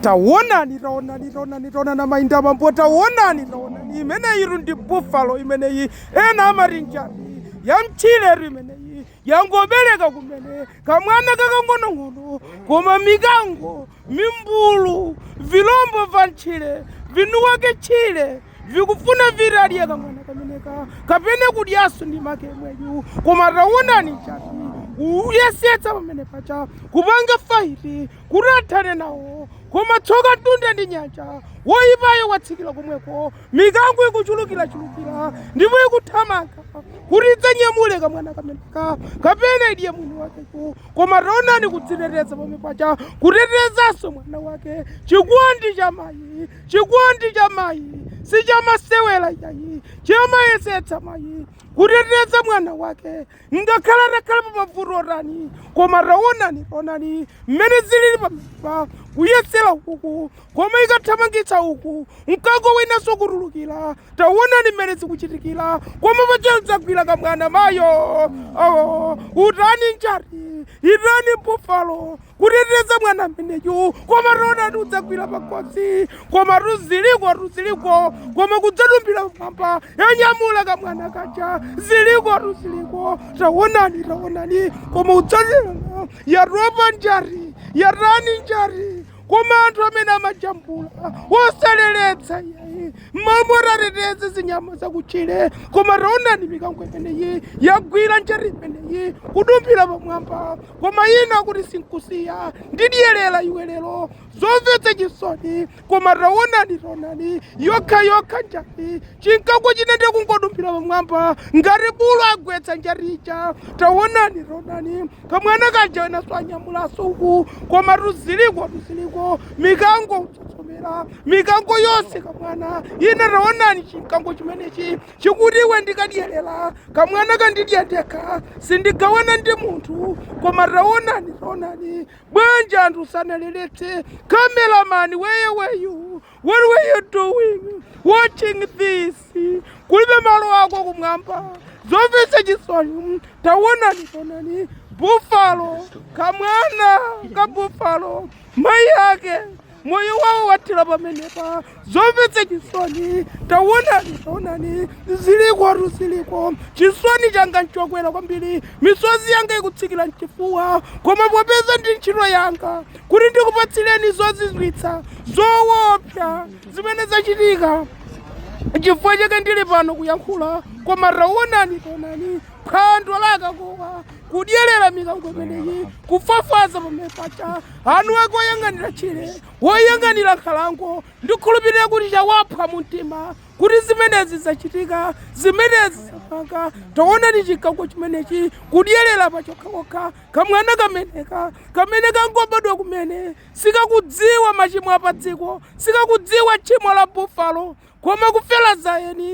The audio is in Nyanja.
tawonani tawonani tawonani tawonani amayinda mambo tawonani tawonani imeneyitu ndi buffalo imeneyi ena amati njati yamtchiretu imeneyi yangobereka kumene kamwana kakang'onong'ono koma mikango mimbulu vilombo va mtchire vinuwake tchire vikufuna vitadye kamwana kameneka kapena kudyaso ndi make mweyu koma tawonani njati kuyesetsa pamene paja kupanga faiti kuti athane nawo. Koma tsoka mtunda ndi nyanja! Woipayo watsikira komweko. Mikango ikuchulukirachulukira ndipo ikuthamanga kuti idzanyamule kamwana kameneka kapena idye mwini wakeyu. Koma taonani kudziteteza pamene paja, kutetezanso mwana wake. Chikondi cha mayi, chikondi cha mayi si chamasewera iyayi, chimayesetsa mayi kuteteza mwana wake. ngakhale atakhale pa mavuto otani koma taonani taonani mmene zilili pamenepa kuyesera uku koma ikathamangitsa uku mkango winanso kutulukira taonani mmene zikuchitikira koma paja kudzagwira kamwana mayo utani njati itani bufalo kuteteza mwana ameneyu koma taonani kudzagwira pakhosi komatu zilikotu ziliko koma kudzadumphira pamwamba yanyamula kamwana kaja zilikotu ziliko tawonani tawonani koma kudzatera yatopa njati yatani njati koma anthu amene amajambula wosaleletsa yayi mmamwe tateteze zinyama zakutchire koma taonani mikango imeneyi yagwira njati imeneyi kudumphira pamwamba koma ina kuti sinkusiya ndidyerera iwe lero zomvetsa chisoni koma taonani taonani yokha yokha njati chimkango china ndiye kungodumphira pamwamba ngati bulu agwetsa njati ija taonani taonani kamwana kaja enaso anyamulaso uku komatu zilikotu ziliko mikango utsotsomera mikango yonse kamwana ina taonani chimkango chimenechi Chikuti iwe ndikadyerera, kamwanaka ndidya ndekha, sindigawana ndi munthu, koma taonani, taonani, bwanji anthu sanaleletse camera man where were you, what were you doing watching this, kulibe malo ako kumwamba, zomvetsa chisoni, taonani, taonani, buffalo, kamwana ka buffalo, mayi ake moyo wawo wathera pamenepa zomvetsa chisoni taonani taonani zilikotu ziliko chisoni changa nchokwera kwambiri misozi yanga ikutsikira mchifuwa koma popeza ndi ntchito yanga kuti ndikupatsireni zozizwitsa zoopsa zimene zachitika chifukwa chake ndili pano kuyankhula koma taonani taonani phwando la kakowa kudyerera mikango imeneyi kufwafwaza pamene pacha anthu ake oyang'anira tchire woyang'anira nkhalango ndikhulupirira kuti chawapha mu mtima kuti zimenezi zachitika zimenezi zapanga taonani chikango chimenechi kudyerera pachokhachokha kamwana kameneka kamene kangobadwa kumene sikakudziwa machimo a padziko sikakudziwa tchimo la bufalo koma kufera za eni